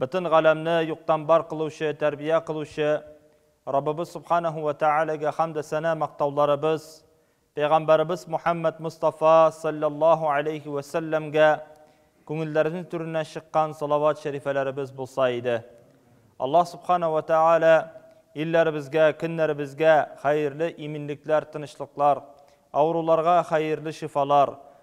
Бөтен галәмне юктан бар кылучы, тәрбия кылучы Раббыбыз Субханаһу вә Тәгаләгә хәмдө сәна мактауларыбыз, Пәйгамбәребез Мухәммәд Мостафа салләллаһу алейһи вә сәлләмгә күңелләребезнең түреннән чыккан салават шәрифәләребез булса иде. Аллаһ Субханаһу вә Тәгалә илләребезгә, көннәребезгә хәерле иминлекләр, тынычлыклар, авыруларга хәерле шифалар,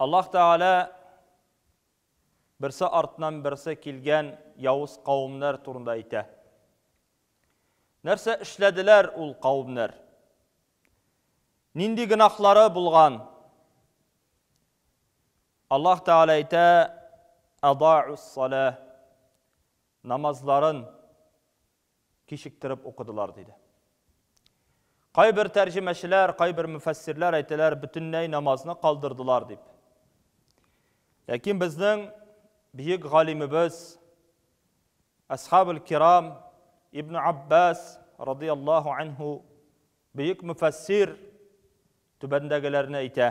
Аллаһ Тәгалә берсе артыннан берсе килгән явыз кавымнар турында әйтә. Нәрсә эшләделәр ул кавымнар? Нинди гынахлары булган? Аллаһ Тәгалә әйтә, "Адаус-сала" намазларын кичектереп укыдылар, диде. Кайбер тәрҗемәчеләр, кайбер мөфәссирләр әйтәләр, бөтенләй намазны калдырдылар дип. Ләкин безнең бөек галимебез Асхабул Кирам Ибн Аббас радияллаһу анху бөек мөфәссир түбәндәгеләрне әйтә.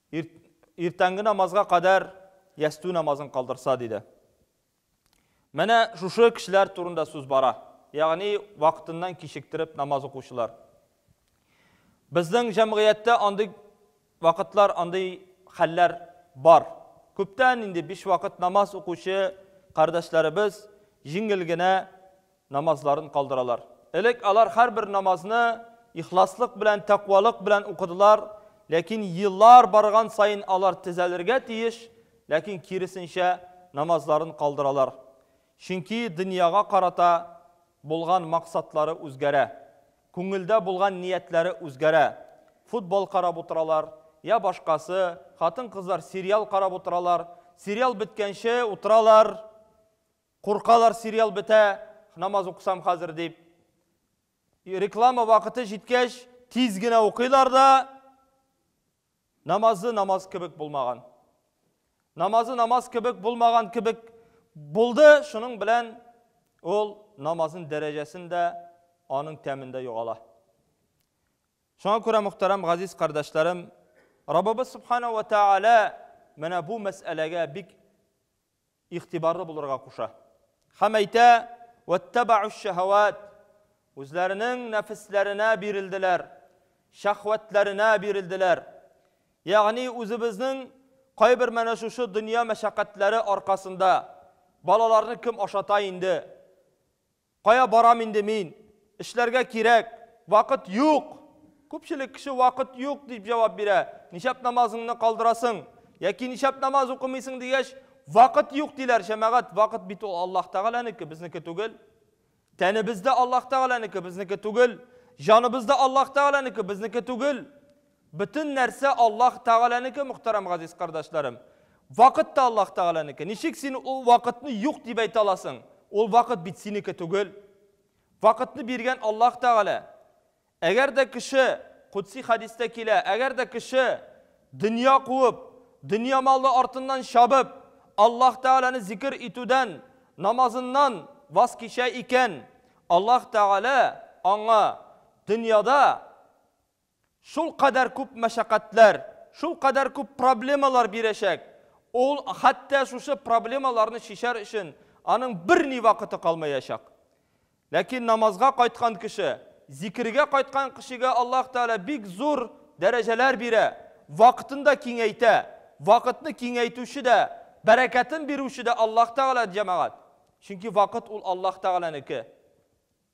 Ир, иртәнге намазга кадәр ястү намазын калдырса, диде. Менә шушы кешеләр турында сүз бара. Ягъни вакытыннан кичектереп намаз укучылар. Безнең җәмгыятьтә андый вакытлар, андый хәлләр бар. Күптән инде биш вакыт намаз укучы кардәшләребез җиңел генә намазларын калдыралар. Элек алар һәрбер намазны ихласлык белән, тәкъвалык белән укыдылар, ләкин еллар барган саен алар тезәлергә тиеш, ләкин киресенчә намазларын калдыралар. Чөнки дөньяга карата булган максатлары үзгәрә. Күңелдә булган ниятләре үзгәрә. Футбол карап утыралар, я башкасы, хатын-кызлар сериал карап утыралар, сериал беткәнче утыралар. Куркалар сериал бетә, намаз укысам хәзер дип. Реклама вакыты җиткәч, тиз генә укыйлар да, намазы намаз кебек булмаган. Намазы намаз кебек булмаган кебек булды, шуның белән ул намазын дәрәҗәсен дә, аның тәмен дә югала. Шуңа күрә, мөхтәрәм газиз кардәшләрем, Раббыбыз Субхана ва Тәгалә менә бу мәсьәләгә бик игътибарлы булырга куша. Һәм әйтә, Вәттәбәгүш-шәһәвәт, үзләренең нәфесләренә бирелделәр, шәһвәтләренә бирелделәр. Ягъни үзебезнең кайбер менә шушы дөнья мәшәкатьләре аркасында балаларны кем ашата инде? Кая барам инде мин? Эшләргә кирәк. Вакыт юк! Күпчелек кеше вакыт юк дип җавап бирә. Ничәп намазыңны калдырасың? Яки ничәп намаз укымыйсың дигәч, вакыт юк диләр, җәмәгать, вакыт бит ул Аллаһ Тәгаләнеке, безнеке түгел. Тәнебез дә Аллаһ Тәгаләнеке, безнеке түгел. Җаныбыз да Аллаһ Тәгаләнеке, безнеке түгел. Бөтен нәрсә Аллаһ Тәгаләнеке, мөхтәрәм газиз кардәшләрем. Вакыт та Аллаһ Тәгаләнеке. Ничек син ул вакытны юк дип әйтә аласың? Ул вакыт бит синеке түгел. Вакытны биргән Аллаһ Тәгалә. Әгәр дә кеше, кудси хәдистә килә, әгәр дә кеше дөнья куып, дөнья малы артыннан чабып, Аллаһ Тәгаләне зикер итүдән, намазыннан ваз кичә икән, Аллаһ Тәгалә аңа дөньяда, Шулкадәр күп мәшәкатьләр, шулкадәр күп проблемалар бирәчәк, ул хәтта шушы проблемаларны чишәр өчен аның берни вакыты калмаячак. Ләкин намазга кайткан кеше, зикергә кайткан кешегә Аллаһ Тәгалә бик зур дәрәҗәләр бирә, вакытын да киңәйтә. Вакытны киңәйтүче дә, бәрәкәтен бирүче дә Аллаһ Тәгалә, җәмәгать. Чөнки вакыт ул Аллаһ Тәгаләнеке.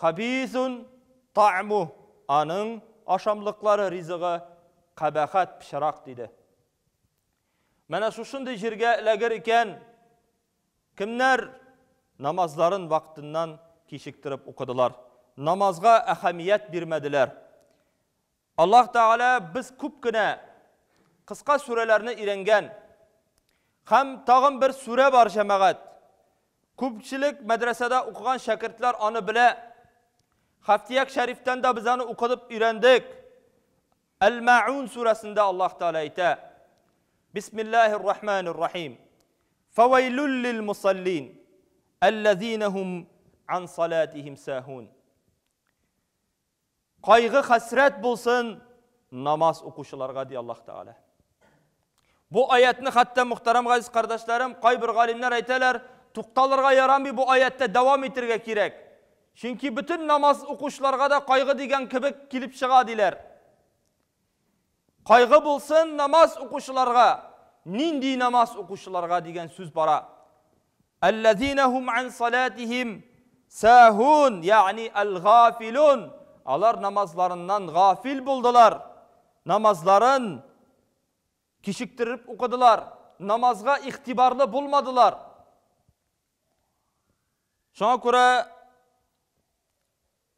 Хабисун таъмуһ, аның ашамлыклары, ризыгы, кабахәт, пычрак, диде. Менә шушындый җиргә эләгер икән, кемнәр намазларын вакытыннан кичектереп укыдылар, намазга әһәмият бирмәделәр, Аллаһ Тәгалә без күп кенә кыска сүрәләрне өйрәнгән. Һәм тагын бер сүрә бар, җәмәгать. Күпчелек мәдрәсәдә укыган шәкертләр аны белә. Хафтияк шәрифтән дә без аны укыдып өйрәндек. Әл-Мәгун сүрәсендә Аллаһ Тәгалә әйтә, Бисмиллаһир Рахманир Рахим. Фәвәйлүл лил-мусаллин, әлләзинәһум ан салатихим сәһун. Кайгы-хәсрәт булсын намаз укучыларга, ди Аллаһ Тәгалә. Бу аятны хәтта мөхтәрәм газиз кардәшләрем, кайбер галимнәр әйтәләр, тукталырга ярамый бу аяттә, дәвам итергә кирәк. Чөнки бөтен намаз укучыларга да кайгы дигән кебек килеп чыга, диләр. Кайгы булсын намаз укучыларга, нинди намаз укучыларга дигән сүз бара. Әлләзинә һум ан салатихим сәһун, ягъни әл-гафилун. Алар намазларыннан гафил булдылар. Намазларын кичектереп укыдылар, намазга игътибарлы булмадылар. Шуңа күрә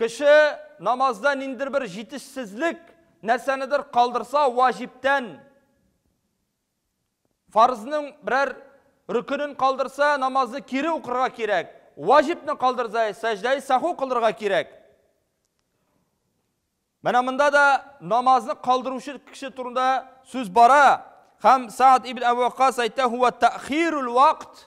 Кеше намазда ниндидер бер җитешсезлек, нәрсәнедер калдырса, ваҗибтән, фарызның берәр рөкенен калдырса, намазны кире укырга кирәк. Ваҗибны калдырса, сәҗдәи саху кылырга кирәк. Менә монда да намазны калдыручы кеше турында сүз бара. Һәм Саад ибн Әбу Ваккас әйтә, "Хуа тәхирул вакт"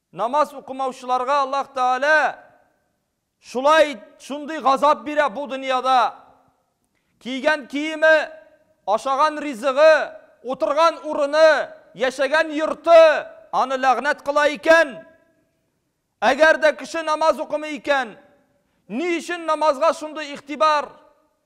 Намаз укымаучыларга Аллаһ Тәгалә шулай, шундый газап бирә бу дөньяда. Кийгән киеме, ашаган ризыгы, утырган урыны, яшәгән йорты аны ләгънәт кыла икән. Әгәр дә кеше намаз укымый икән, ни өчен намазга шундый игътибар?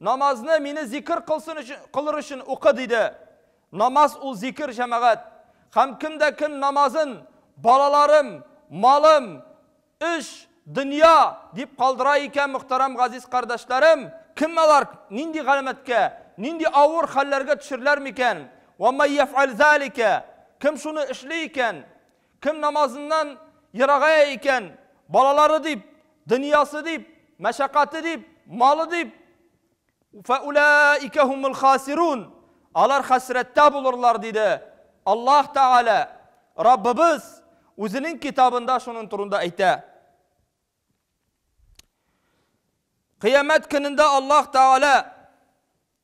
Намазны мине зикер кылсын өчен, кылыр өчен укы, диде. Намаз ул зикер, җәмәгать. Һәм кем дә кем намазын балаларым, малым, эш, дөнья дип калдыра икән, мөхтәрәм газиз кардәшләрем, кем алар нинди галәмәткә, нинди авыр хәлләргә төшерләр микән? Ва май яф'аль залика, кем шуны эшли икән? Кем намазыннан ерагая икән, балалары дип, дөньясы дип, мәшәкате дип, малы дип, фәүләика хумул хасирун, алар хәсрәттә булырлар, диде Аллаһ Тәгалә, Раббыбыз Үзенең Китабында шуның турында әйтә. Кыямәт көнендә Аллаһ Тәгалә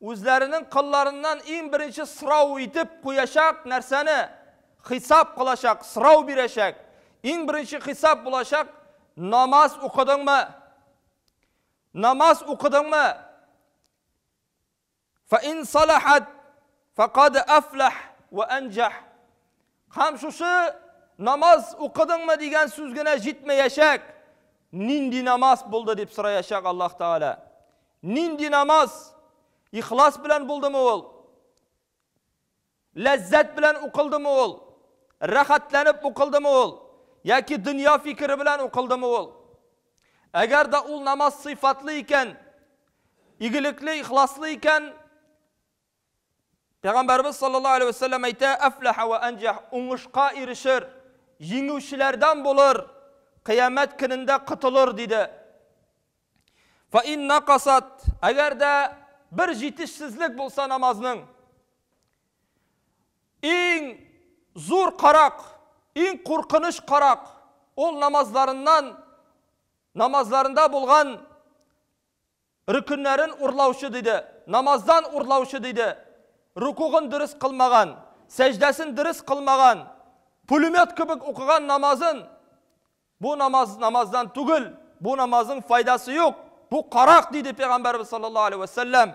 Үзләренең кылларыннан иң беренче сорау итеп куячак нәрсәне, хисап кылачак, сорау бирәчәк. Иң беренче хисап булачак, Намаз укыдыңмы? Намаз укыдыңмы? Фә ин салахат, фә кад әфләх вә әнҗәх. Һәм шушы намаз укыдыңмы дигән сүз генә җитмәячәк. Нинди намаз булды дип сораячак Аллаһ Тәгалә. Нинди намаз? Ихлас белән булдымы ул? Ләззәт белән укылдымы ул? Рәхәтләнеп укылдымы ул? Яки дөнья фикере белән укылдымы ул? Әгәр дә ул намаз сыйфатлы икән, игелекле, ихласлы икән, Пәйгамбәребез саллаллаһу галәйһи вә сәлләм әйтә, Әфләһә вә әнҗәһ, уңышка ирешер, җиңүчеләрдән булыр, Кыямәт көнендә котылыр, диде. Фә ин накасат, әгәр дә бер җитешсезлек булса намазның, иң зур карак, иң куркыныч карак, ул намазларыннан, намазларында булган Рөкеннәрен урлаучы диде, намаздан урлаучы диде, рукугын дөрес кылмаган, сәҗдәсен дөрес кылмаган, пулемет кебек укыган намазын, бу намаз намаздан түгел, бу намазның файдасы юк, бу карак, диде Пәйгамбәребез саллаллаһу алейһи вә сәлләм.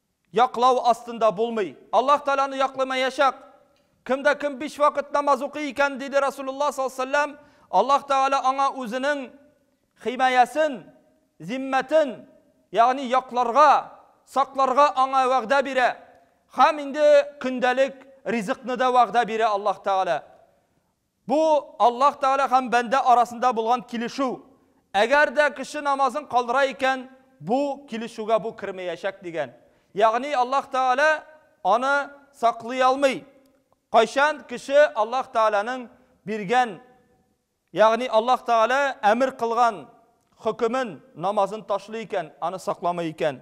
Яклау астында булмый. Аллаһ Тәгаләне якламаячак. Кемдә кем биш вакыт намаз укый икән, диде Расулуллаһ саллаллаһу алейһи ва сәлләм, Аллаһ Тәгалә аңа үзенең химаясен, зиммәтен, ягъни якларга, сакларга аңа вәгъдә бирә. Һәм инде көндәлек ризыкны да вәгъдә бирә Аллаһ Тәгалә. Бу, Аллаһ Тәгалә һәм бәндә арасында булган килешү. Әгәр дә кеше намазын калдыра икән, бу килешүгә бу кермәячәк, дигән. Ягъни Аллаһ Тәгалә аны саклый алмый. Кайчан кеше Аллаһ Тәгаләнең биргән, ягъни Аллаһ Тәгалә әмер кылган хөкемен, намазын ташлый икән, аны сакламый икән.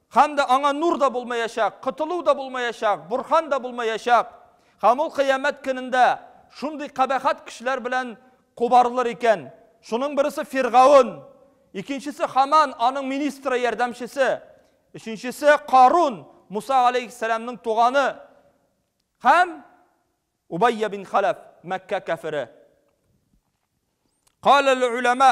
Һәм дә аңа нур да булмаячак, котылу да булмаячак, Борһан да булмаячак. Һәм ул Кыямәт көнендә шундый кабахәт кешеләр белән кубарылыр икән. Шуның бересе Фиргаун, икенчесе Хаман, аның министры, ярдәмчесе, өченчесе Карун, Муса галәйһиссәламның туганы, һәм Убайя бин Халәф, Мәккә кәфере. Каләл-үләмә,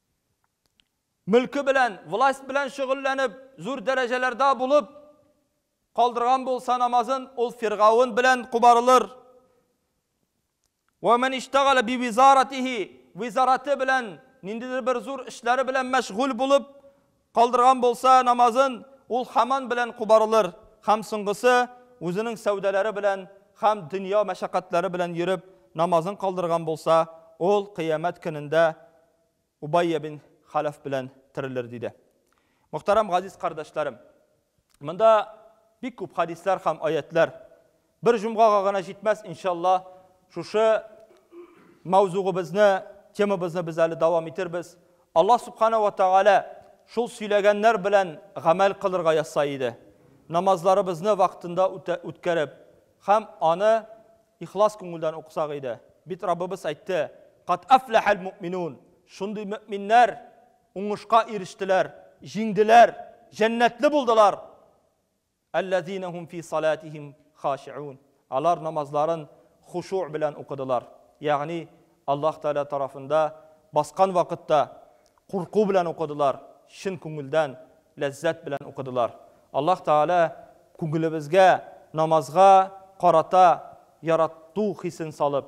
мөлке белән, власть белән шөгыльләнеп, зур дәрәҗәләрдә булып калдырган булса намазын, ул фиргаун белән кубарылыр. Вә мен иштагала би визаратихи, визараты белән, ниндидер бер зур эшләре белән мәшгуль булып, Калдырган булса намазын, ул хаман белән кубарылыр, хәм соңгысы, үзенең сәүдәләре белән хәм дөнья мәшәкатьләре белән йөреп, намазын калдырган булса, ул кыямәт көнендә Убайя бин Халәф белән терелер, диде. Мөхтәрәм газиз кардәшләрем! Монда бик күп хәдисләр хәм аятьләр Бер җомгага гына җитмәс, иншалла, шушы мәүзугыбызны, темабызны без әле дәвам итербез. Аллаһ Субхана ва Тәгалә шул сөйләгәннәр белән гамәл кылырга язса иде. Намазларыбызны вакытында үткәреп, һәм аны ихлас күңелдән укысак иде. Бит Раббыбыз әйтте, Кат афләхәл мөминун. Шундый мөминнәр уңышка ирештеләр, җиңделәр, җәннәтле булдылар. Әлләзина һум фи салатихим хашиун. Алар намазларын хушу белән укыдылар. Ягъни, Аллаһ Тәгалә тарафында баскан вакытта курку белән укыдылар, чын күңелдән, ләззәт белән укыдылар. Аллаһ Тәгалә күңелебезгә намазга карата ярату хисен салып,